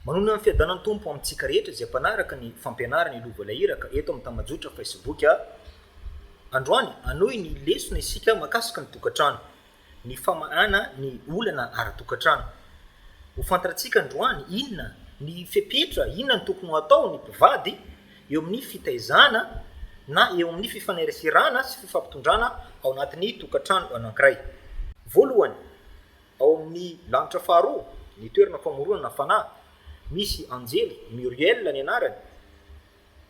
Manonona ny fiadanan'ny Tompo amintsika rehetra izay mpanaraka ny fampianarana i Lova ilay iraka eto amin'ny tambajotra Facebook a! Androany, hanohy ny lesona isika mahakasika ny tokantrano, ny famahana ny olana ara-tokantrano. Ho fantarantsika androany inona ny fepetra, inona no tokony ho atao ny mpivady eo amin'ny fitaizana na eo amin'ny fifaneraserana sy fifampitondrana ao anatin'ny tokantrano anankiray. Voalohany, Ao amin'ny lanitra faharoa, ny toerana famoronana fanahy, misy anjely Muriel ny anarany,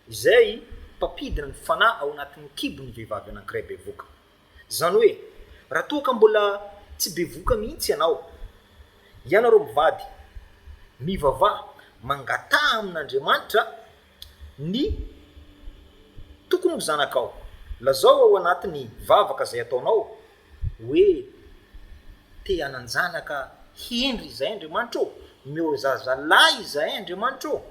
izay mpampidina ny fanahy ao anatin'ny kibon'ny vehivavy anankiray bevoka. Izany hoe, raha toa ka mbola tsy bevoka mihitsy ianao, ianareo mivady, mivavaha, mangataha amin'Andriamanitra Ny tokony ho zanakao. Lazao ao anatin'ny vavaka izay ataonao hoe, Te hanan-janaka hendry izahay Andriamanitra ô, omeo zazalahy izahay Andriamanitra ô,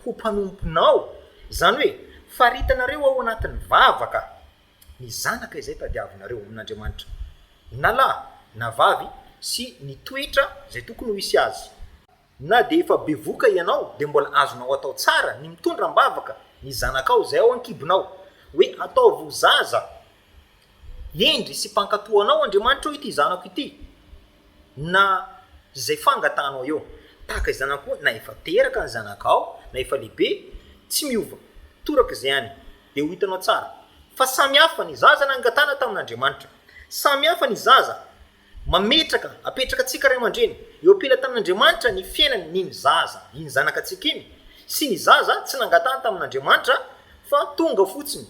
ho mpanomponao. Izany hoe, faritanareo ao anatin'ny vavaka ny zanaka izay tadiavinareo amin'Andriamanitra, na lahy na vavy, sy ny toetra izay tokony ho hisy azy. Na dia efa bevoka ianao dia mbola azonao atao tsara ny mitondra am-bavaka ny zanakao izay ao an-kibonao, hoe ataovy ho zaza hendry sy mpankatò anao Andriamanitra ô ity zanako ity, na izay fangatahanao eo. Tahaka izany ihany koa na efa teraka ny zanakao na efa lehibe, tsy miova, toraka izay any dia ho hitanao tsara fa samy hafa ny zaza nangatahana tamin'Andriamanitra, samy hafa ny zaza, Mametraka, apetraka antsika ray aman-dreny, eo am-pelatanan'Andriamanitra ny fiainany n'iny zaza, iny zanakatsika iny, sy ny zaza tsy nangatahany tamin'Andriamanitra fa tonga fotsiny.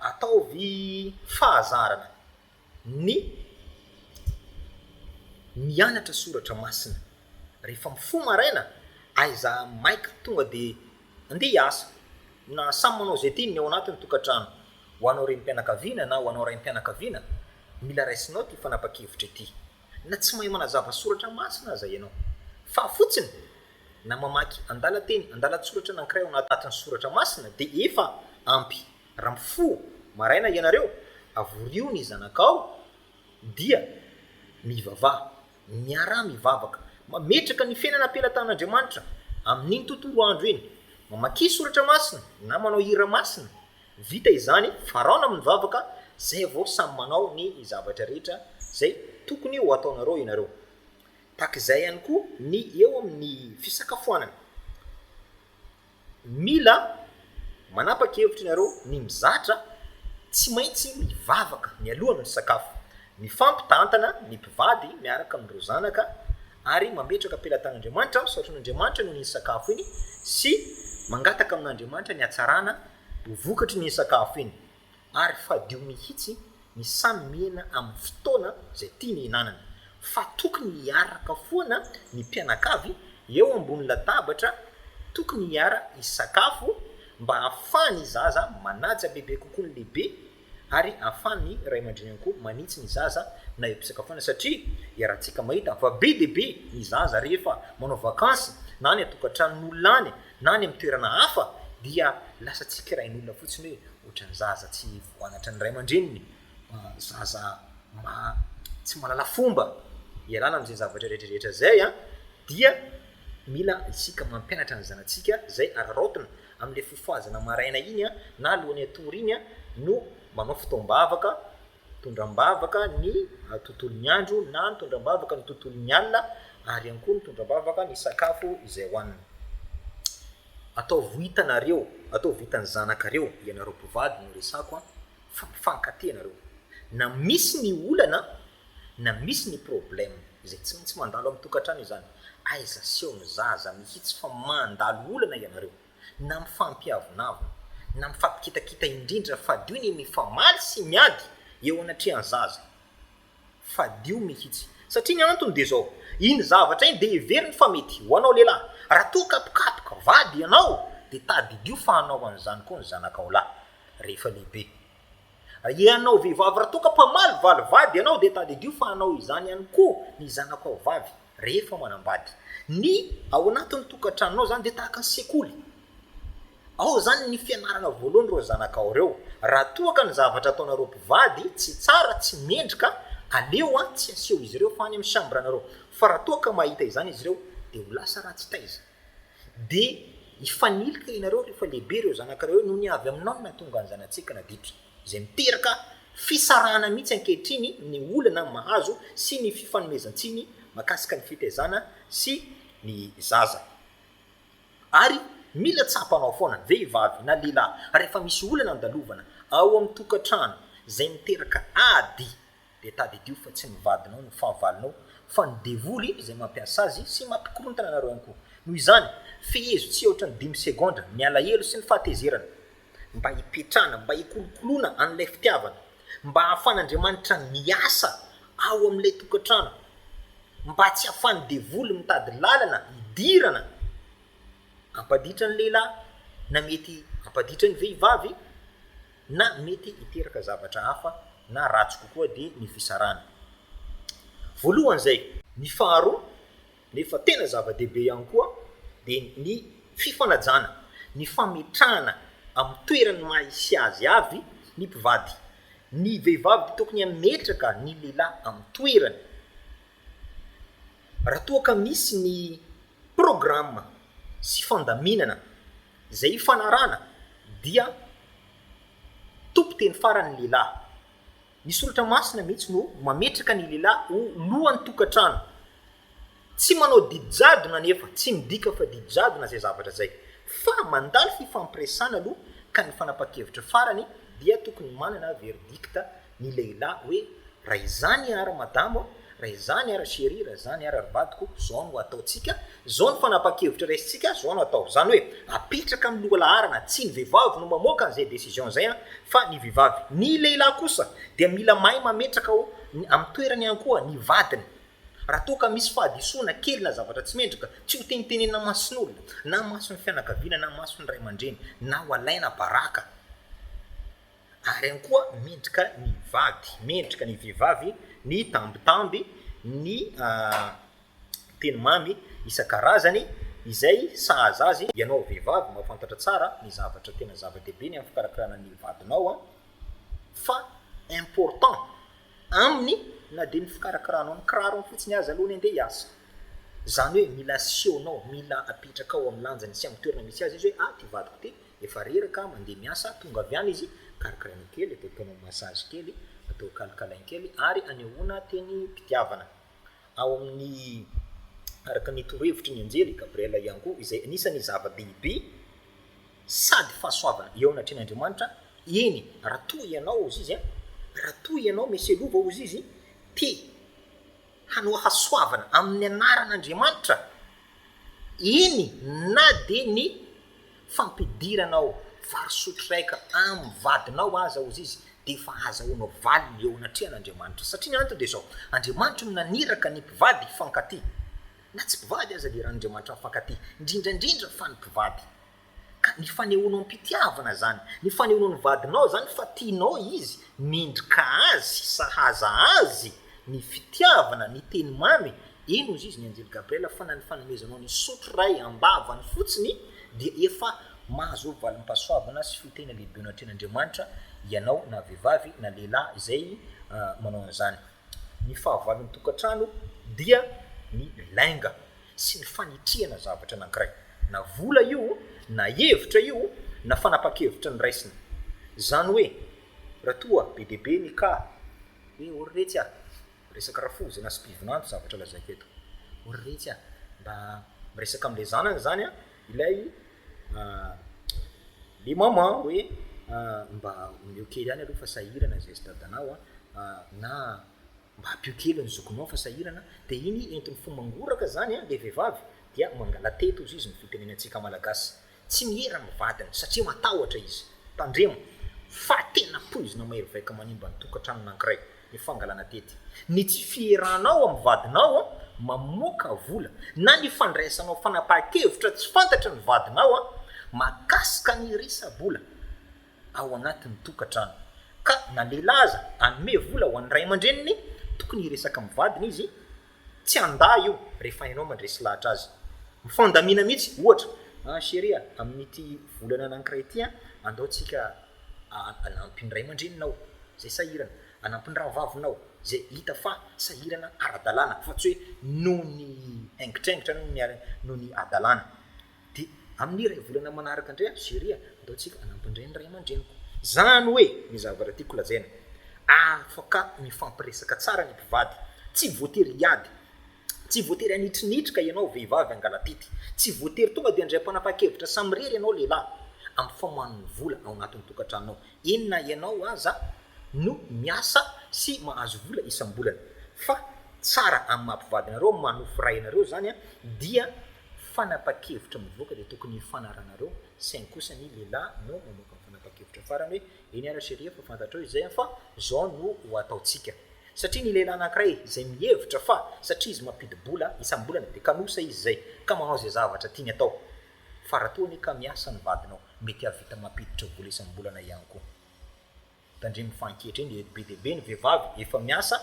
Ataovy fahazarana ny mianatra soratra masina. Rehefa mifoha maraina, aiza maika tonga dia Andeha hiasa, na samy manao izay tiany ny ao anatin'ny tokantrano. Ho anao renim-pianakaviana na ho anao raim-pianakaviana, mila raisinao ity fanapa-kevitra ity. Na tsy mahay manazava soratra masina aza ianao, fa fotsiny na mamaky andalan-teny, andalan-tsoratra anankiray ao anatin'ny soratra masina dia efa ampy. Raha mifoha maraina ianareo, avorio ny zanakao dia mivavaha. Miaraha mivavaka. Mametraka ny fiainana am-pelatan'Andriamanitra amin'iny tontolo andro iny. Mamakia soratra masina na manao hira masina. Vita izany, faraona amin'ny vavaka, zay vao samy manao ny zavatra rehetra zay tokony ho ataonareo ianareo. Tahaka izay ihany koa ny eo amin'ny fisakafoanana. Mila manapaka hevitra ianareo ny mizatra tsy maintsy mivavaka mialoha ny misakafo, mifampitantana ny mpivady miaraka amin'ireo zanaka ary mametraka am-pelatan'Andriamanitra, misaotra an'Andriamanitra noho iny sakafo iny sy mangataka amin'Andriamanitra ny hatsarana ho vokatry ny sakafo iny. Ary fadio mihitsy ny samy mihena amin'ny fotoana izay tiany hihinanana. Fa tokony hiaraka foana ny mpianakavy eo ambony latabatra, tokony hiara-hisakafo mba hahafahan'ny zaza manaja bebe kokoa ny lehibe ary hahafahan'ny ray aman-dreny ihany koa manitsy ny zaza na eo am-pisakafoanana satria iarahantsika mahita fa be dia be ny zaza rehefa manao vakansy na any an-tokantranon'olona any na any amin'ny toerana hafa dia lasa tsikerain'olona fotsiny hoe ohatran'ny zaza tsy voanatran'ny ray aman-dreniny, zaza tsy mahalala fomba, ialana amin'izay zavatra rehetrarehetra izay an, dia mila isika mampianatra ny zanatsika izay araraotina amin'ilay fofohazana maraina iny an, na alohan'ny hatory iny an, no manao fotoam-bavaka Mitondra am-bavaka ny tontolon'ny andro na mitondra am-bavaka ny tontolon'ny alina ary ihany koa mitondra am-bavaka ny sakafo izay hohanina. Ataovy ho hitanareo, ataovy ho hitan'ny zanakareo, ianareo mpivady no resako an, fa mifankatia ianareo. Na misy ny olana, na misy ny problème, izay tsy maintsy mandalo amin'ny tokantrano izany. Aiza aseho ny zaza mihitsy fa mandalo olana ianareo. na mifampiavonavona, na mifampikitakita indrindra fadio ny mifamaly sy miady eo anatrehan'ny zaza. Fadio mihitsy. Satria ny antony dia izao, iny zavatra iny dia heveriny fa mety ho anao lehilahy. Raha toa ka mpikapoka vady ianao dia tadidio fa hanao an'izany koa ny zanakao lahy rehefa lehibe. Ianao vehivavy raha toa ka mpamalivaly vady ianao dia tadidio fa hanao izany ihany koa ny zanakao vavy. rehefa manambady. Ny ao anatin'ny tokantranonao zany dia tahaka ny sekoly, ao zany ny fianarana voalohan'ireo zanakao ireo, raha toa ka ny zavatra ataonareo mpivady tsy tsara, tsy mendrika, aleo tsy aseho izy ireo fa any amin'ny chambre-nareo, fa raha toa ka mahita izany izy ireo dia ho lasa ratsy taiza. Dia hifanilika ianareo rehefa lehibe ireo zanakareo eo, noho ny avy aminao no nahatonga ny zanatsika naditra. Izay miteraka fisarahana mihitsy ankehitriny ny olana mahazo sy ny fifanomezan-tsiny mahakasika ny fitaizana sy ny zaza. Ary mila tsapanao foana, vehivavy na lehilahy, rehefa misy olana andalovana ao amin'ny tokantrano izay miteraka ady Dia tadidio fa tsy ny vadinao no fahavalonao fa ny devoly izay mampiasa azy sy mampikorontana anareo ihany koa. Noho izany, fehezo tsy aotran'ny dimy segondra ny alahelo sy ny fahatezerana mba hipetrahana, mba hikolokoloana an'ilay fitiavana, mba hahafan'Andriamanitra miasa ao amin'ilay tokantrano, mba tsy hahafan'ny devoly mitady lalana hidirana hampaditra ny lehilahy na mety hampaditra ny vehivavy. na mety hiteraka zavatra hafa na ratsy kokoa dia ny fisarahana voalohany izay. Ny faharoa nefa tena zava-dehibe ihany koa dia ny fifanajana, ny fametrahana amin'ny toerany maha hisy azy avy ny mpivady. Ny vehivavy dia tokony hametraka ny lehilahy amin'ny toerany. Raha toa ka misy ny programa sy fandaminana izay hifanarahana dia tompon-teny farany ny lehilahy. Ny soratra masina mihitsy no mametraka ny lehilahy ho lohan'ny tokantrano. Tsy manao didy jadona anefa, tsy midika fa didy jadona izay zavatra izay fa mandalo fifampiresahana aloha ka ny fanapahan-kevitra farany dia tokony manana verdicte. ny lehilahy hoe raha izany ary madamo a, raha izany ary cherie, raha izany ary ry vadiko, izao no ataontsika, izao no fanapahan-kevitra raisintsika, izao no atao. Izany hoe apetraka amin'ny lohalaharana, tsy ny vehivavy no mamoaka an'izay décision izay an, fa ny vehivavy. Ny lehilahy kosa dia mila mahay mametraka ao amin'ny toerany ihany koa ny vadiny. Raha toa ka misy fahadisoana kely na zavatra tsy mendrika, tsy ho tenitenenina mason'olona, na mason'ny fianakaviana, na mason'ny ray aman-dreny, na ho alaina baraka. Ary ihany koa mendrika ny vady, mendrika ny vehivavy ny tambitamby, ny teny mamy isan-karazany izay sahaza azy. Ianao vehivavy mahafantatra tsara ny zavatra tena zava-dehibe ny amin'ny fikarakarana ny vadinao fa important aminy na dia ny fikarakaranao ny kirarony fotsiny aza aloha ny andeha hiasa. Izany hoe mila asehonao, mila apetrakao amin'ny lanjany sy amin'ny toerana misy azy izy hoe ah ity vadiko ity. Efa reraka mandeha miasa, tonga avy any izy, karakaraina kely, atao tonal massage kely, atao kalikalainy kely ary anehoana teny pitiavana. Ao amin'ny araka ny torohevitry ny anjely Gabriela ihany koa izay anisan'ny zava-dehibe sady fahasoavana eo anatrehan'Andriamanitra, eny raha toa ianao hozy izy a, raha toa ianao Meselova hozy izy, te hanao hasoavana amin'ny anaran'Andriamanitra, eny na dia ny fampidiranao vary sotroraika amin'ny vadinao aza ozy izy dia efa hahazahoanao valiny eo anatrehan'Andriamanitra, satria ny antony dia izao, Andriamanitra no naniraka ny mpivady hifankatia, na tsy mpivady aza dia eran'Andriamanitra mifankatia, indrindra indrindra fa ny mpivady. Ka ny fanehoanao am-pitiavana zany, ny fanehoanao ny vadinao zany fa tianao izy, mendrika azy, sahaza azy, ny fitiavana, ny teny mamy, eny ozy izy ny anjely Gabriel fa na ny fanomezanao ny sotro iray am-bavany fotsiny dia efa mahazo valim-pahasoavana sy fitahiana lehibe ao anatrehan'Andriamanitra ianao na vehivavy na lehilahy izay manao an'izany. Ny fahavalon'ny tokantrano dia ny lainga sy ny fanitrihana zavatra anankiray, na vola io, na hevitra io, na fanapan-kevitra noraisina. Izany hoe, raha toa be dia be ny cas hoe ory retsy a! resaka rafozy na spivinando zavatra lazaiko eto, ory retsy a! mba miresaka amin'ilay zanany izany a! Ilay le maman hoe mba omeo kely any aloha fa sahirana zay stade anao na mba ampio kely ny zokinao fa sahirana dia iny entin'ny fo mangoraka izany ilay vehivavy dia mangalatety hozy izy ny fitenenantsika malagasy tsy miera amin'ny vadiny satria matahotra izy tandremo fa tena poizina mahery vaika manimba ny tokantranon'ankiray ny fangalana tety, ny tsy fieranao amin'ny vadinao mamoaka vola na ny fandraisanao fanapahan-kevitra tsy fantatry ny vadinao mahakasika ny resa-bola ao anatin'ny tokantrano ka na lehilahy aza hanome vola ho an'ny ray aman-dreniny, tokony hiresaka amin'ny vadiny izy. Tsy handà io rehefa ianao mandresy lahatra azy. Mifandamina mihitsy, ohatra, Ah chérie a, amin'ity volana anankiray ity an, andao tsika hanampy ny ray aman-dreninao izay sahirana, hanampy ny rahavavinao izay hita fa sahirana ara-dalàna, fa tsy hoe noho ny haingitraingitra, noho ny hadalàna. Dia amin'ny iray volana manaraka indray ato Syria, andao tsika hanampy indray ny ray aman-dreniko. Izany hoe, ny zavatra tiako lazaina, afaka mifampiresaka tsara ny mpivady. Tsy voatery hiady. Tsy voatery hanitrinitra ianao vehivavy hangalatety. Tsy voatery tonga dia handray mpanapa-kevitra samirery ianao lehilahy, amin'ny famoahan'ny vola ao anatin'ny tokantranonao. Eny na ianao aza no miasa sy mahazo vola isam-bolana. Fa tsara amin'ny maha-mpivady anareo, manofy ray anareo izany dia fanapa-kevitra mivoaka dia tokony hifanaranareo saingy kosa ny lehilahy no mamoaka ny fanapa-kevitra farany hoe eny ary cherie efa fantatrao izay an fa zao no ho ataontsika satria ny lehilahy anankiray izay mihevitra fa satria izy mampidi-bola isam-bolana dia kanosa izy izay ka manao izay zavatra tiany atao fa raha toa anie ka miasa ny vadinao mety hahavita mampiditra vola isam-bolana ihany koa Tandremo fa ankehitriny eto be dia be ny vehivavy efa miasa,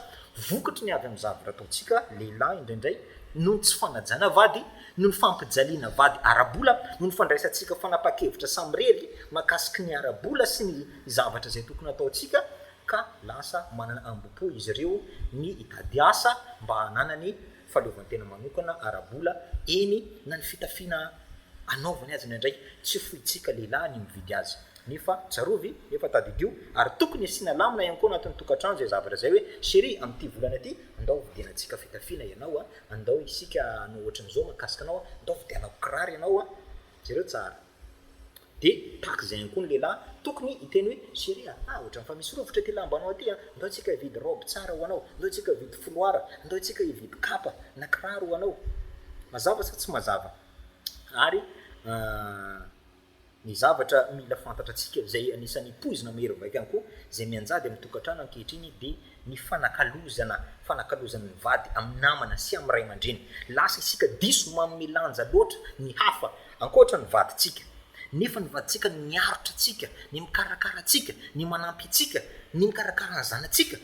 vokatry ny avy amin'ny zavatra ataontsika lehilahy indraindray, noho ny tsy fanajana vady, noho ny fampijaliana vady ara-bola, noho ny fandraisantsika fanapahan-kevitra samirery mahakasika ny ara-bola sy ny zavatra izay tokony hataontsika ka lasa manana ambopo izy ireo ny hitady asa mba hananany fahaleovantena manokana ara-bola, eny na ny fitafiana anaovany aza indraindray tsy fointsika lehilahy ny mividy azy nefa tsarovy nefa tadidio ary tokony asiana lamina ihany koa anatin'ny tokantrano izay zavatra izay hoe chérie amin'ity volana ity andao hovidianantsika fitafiana ianao a, andao isika hanao ohatran'izao mahakasika anao a, andao vidianako kiraro ianao a, jereo tsara. Dia tahaka izay ihany koa ny lehilahy, tokony hiteny hoe, Chérie a, ah ohatran'ny fa misy rovitra ity lambanao ity an! Ndao isika hividy robe tsara ho anao, ndao isika hividy foloara, ndao isika hividy kapa na kiraro ho anao. Mazava sa tsy mazava? Ary ny zavatra mila fantatratsika, izay anisan'ny poizina mahery vaika ihany koa, izay mianjady amin'ny tokantrano ankehitriny dia, ny fanakalozana fanakalozan' ny vady amin' ny namana sy amin' ny ray aman-dreny. Lasa isika diso manome lanja loatra ny hafa ankoatra ny vadintsika. Nefa ny vadintsika no miaritra antsika, ny mikarakara antsika, ny manampy antsika, ny mikarakara ny zanatsika,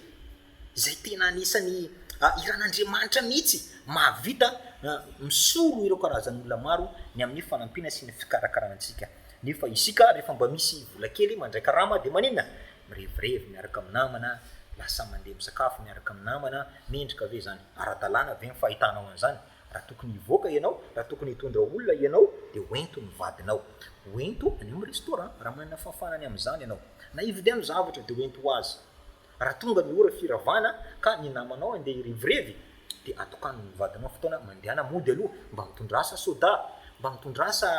izay tena anisan'ny iran' Andriamanitra mihitsy mahavita misolo ireo karazan' olona maro ny amin'ny fanampiana sy ny fikarakarana antsika. Nefa isika rehefa mba misy vola kely mandray karama dia maninona? Mirevirevy miaraka amin'ny namana, lasa mandeha misakafo miaraka amin'ny namana, mendrika ve izany? Ara-dalàna ve ny fahitanao an'izany? Raha tokony hivoaka ianao, raha tokony hitondra olona ianao, dia ho ento ny vadinao. Ho ento any amin'ny restaurant, raha manana fahafahana ny amin'izany ianao. Na hividiano zavatra, dia ho ento ho azy. Raha tonga ny ora firavana, ka ny namanao handeha hirevirevy, dia atokano ny vadinao fotoana mandehana mody aloha, mba mitondràsa soda, mba mitondràsa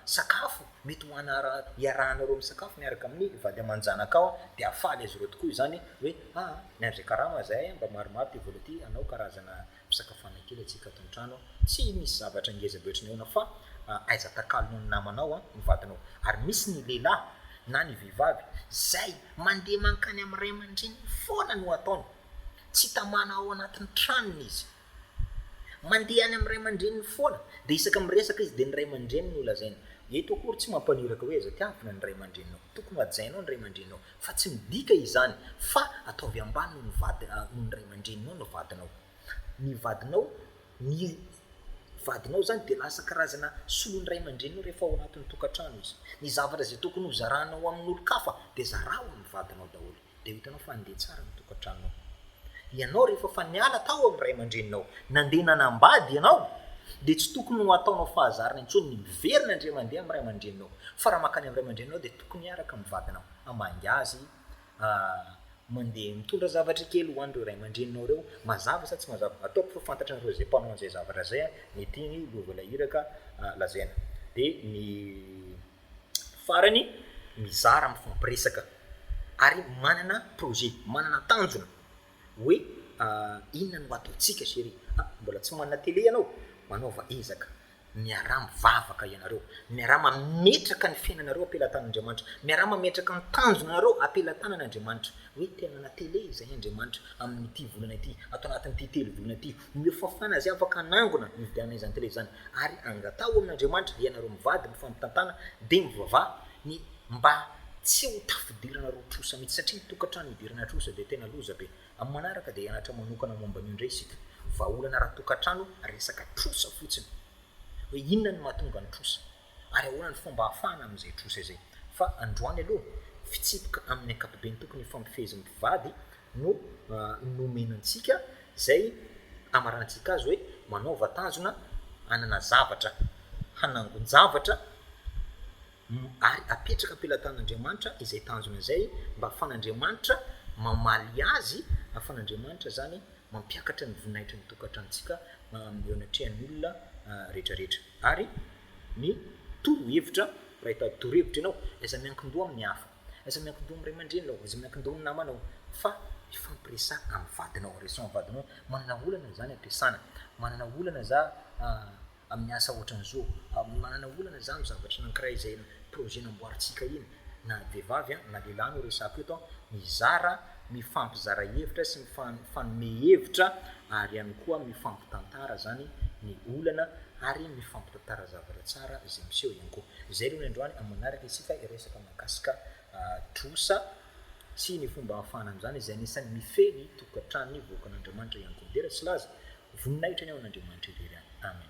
sakafo. Mety ho ana raha iarahanareo misakafo miaraka amin'ny vady aman-janakao dia hahafaly azy ireo tokoa izany hoe a! miandry karama izahay a! mba maromaro ity vola ity hanao karazana fisakafoanana kely antsika ato an-trano a! tsy misy zavatra ngeza be ohatran'ny ahoana fa aiza takalonao ny namanao a! ny vadinao ary misy ny lehilahy na ny vehivavy izay mandeha mankany amin'ny ray aman-dreniny foana no ataony, tsy tamana ao anatin'ny tranony izy. Mandeha any amin'ny ray aman-dreniny foana, dia isaka miresaka izy dia ny ray aman-dreniny no lazainy. Eto akory tsy mampaniraka hoe aiza tiavina ny ray aman-dreninao. Tokony ho hajainao ny ray aman-dreninao, fa tsy midika izany fa ataovy ambany noho ny vady noho ny ray aman-dreninao ny vadinao. Ny vadinao ny vadinao izany dia lasa karazana solon'ny ray aman-dreninao rehefa ao anatin'ny tokantrano izy. Ny zavatra izay tokony hozaranao amin'olon-kafa dia zarao amin'ny vadinao daholo. dia ho hitanao fa handeha tsara ny tokantranonao. Ianao rehefa efa niala tao amin'ny ray aman-dreninao, nandeha nanambady ianao, dia tsy tokony ho ataonao fahazarana intsony ny miverina indray mandeha amin'ny ray aman-dreninao, fa raha mankany amin'ny ray aman-dreninao dia tokony hiaraka amin'ny vadinao, hamangy azy, mandeha mitondra zavatra kely ho an'ireo ray aman-dreninao ireo, mazava sa tsy mazava, ataoko fa fantatranareo izay mpanao an'izay zavatra izay an, mety iny loha voalahiraka lazaina, dia ny. Farany, mizara, mifampiresaka ary manana projet, manana tanjona hoe inona no ataontsika chéri a, mbola tsy manana télé ianao? manaova ezaka, miaraha mivavaka ianareo, miaraha mametraka ny fiainanareo am-pelatan'Andriamanitra, miaraha mametraka ny tanjonanareo am-pelatanan'Andriamanitra hoe te hanana télé izahay Andriamanitra amin'ity volana ity, ato anatin'ity telo volana ity Omeo fahafahana izay afaka hanangona ny fifidianana izany tele izany ary angataho amin'Andriamanitra dia ianareo mivady ny fampitantana dia mivavaha ny mba tsy ho tafidirana roa trosa mihitsy satria ny tokantrano idirana trosa dia tena loza be. Amin'ny manaraka dia hianatra manokana momba an'io indray isika. Vahaolana ara-tokantrano resaka trosa fotsiny hoe inona no mahatonga ny trosa. Ary ahoana ny fomba hahafahana amin'izay trosa izay? Fa androany aloha, fitsipika amin'ny ankapobeny tokony hifampifehezin'ny mpivady no nomena antsika, izay amarahantsika azy hoe manaova tanjona hanana zavatra, hanangon-javatra, ary apetraka am-pelatan'Andriamanitra izay tanjona izay, mba ahafahan'Andriamanitra mamaly azy, ahafahan'Andriamanitra izany mampiakatra ny voninahitrany tokantranontsika eo anatrehan'ny olona rehetrarehetra. Ary ny torohevitra raha efa torohevitra ianao, aiza miankin-doha amin'ny hafa? Aiza miankin-doha amin'ny ray aman-dreninao? Aiza miankin-doha amin'ny namanao? Fa mifampiresaha amin'ny vadinao, resaho amin'ny vadinao hoe manana olana za ny am-piasana, manana olana za amin'ny asa ohatran'izao, manana olana za amin'ny zavatra anankiray izay projet namboarintsika iny, na ny vehivavy na lehilahy no resahako eto, mizara, mifampizara hevitra sy mifanome hevitra ary ihany koa mifampitantara zany ny olana ary mifampitantara zavatra tsara izay miseho ihany koa. Izay aloha ny androany, amin'ny manaraka isika hiresaka mahakasika trosa sy ny fomba ahafahana amin'izany izay anisan'ny mifehy ny tokantranon'ny vahoakan'Andriamanitra ihany koa. Dera tsy laza, voninahitra ny ao an'Andriamanitra irery any. Amen.